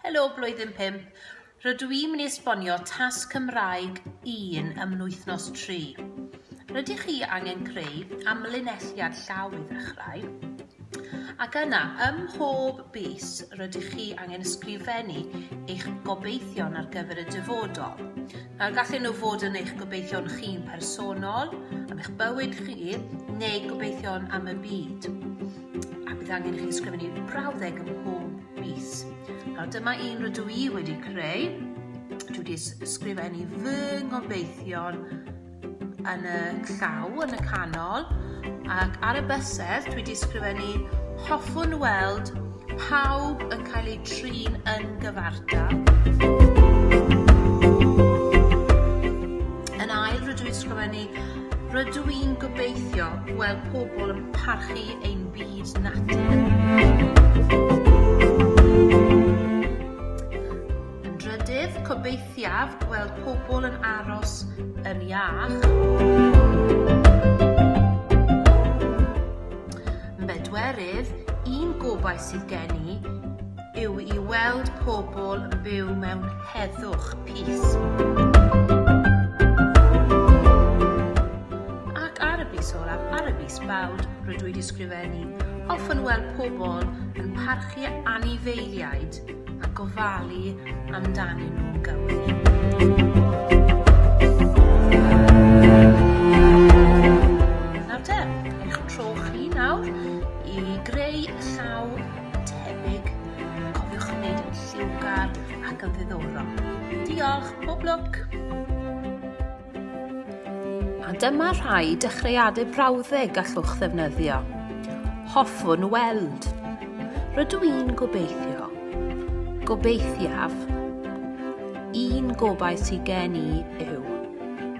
Helo Blwyddyn Pump, rydw i'n mynd i esbonio tasg Cymraeg 1 ym mlwythnos 3. Rydych chi angen creu amlinelliad llaw i ddechrau, ac yna ym mhob bus rydych chi angen ysgrifennu eich gobeithion ar gyfer y dyfodol. Nawr gallen nhw fod yn eich gobeithion chi'n personol, am eich bywyd chi, neu gobeithion am y byd. a bydd angen i chi ysgrifennu brawddeg ym mhob mis. Nawr dyma un rydw i wedi creu. Dwi wedi ysgrifennu fy ngobeithion yn y llaw, yn y canol, ac ar y bysedd dwi wedi ysgrifennu hoffwn weld pawb yn cael eu trin yn gyfartal. Yn ail rydw i wedi ysgrifennu Rydw i'n gobeithio gweld pobl yn parchu ein byd natur. Yn drydydd, cobeithiaf gweld pobl yn aros yn iach. Yn bedwerydd, un gobaith sydd gen i yw i weld pobl yn byw mewn heddwch, peace. Ac ar y bus olaf, ar y bus bawd, rydw i wedi sgrifennu, hoffwn weld pobl yn parchu anifeiliaid a gofalu amdanyn nhw'n gywir. tebyg, cofiwch yn gwneud yn lliwgar ac yn ddiddorol. Diolch, pob lwc! A dyma rhai dechreuadau brawddeg gallwch ddefnyddio. Hoffwn weld. Rydw i'n gobeithio. Gobeithiaf. Un gobaith sydd gen i yw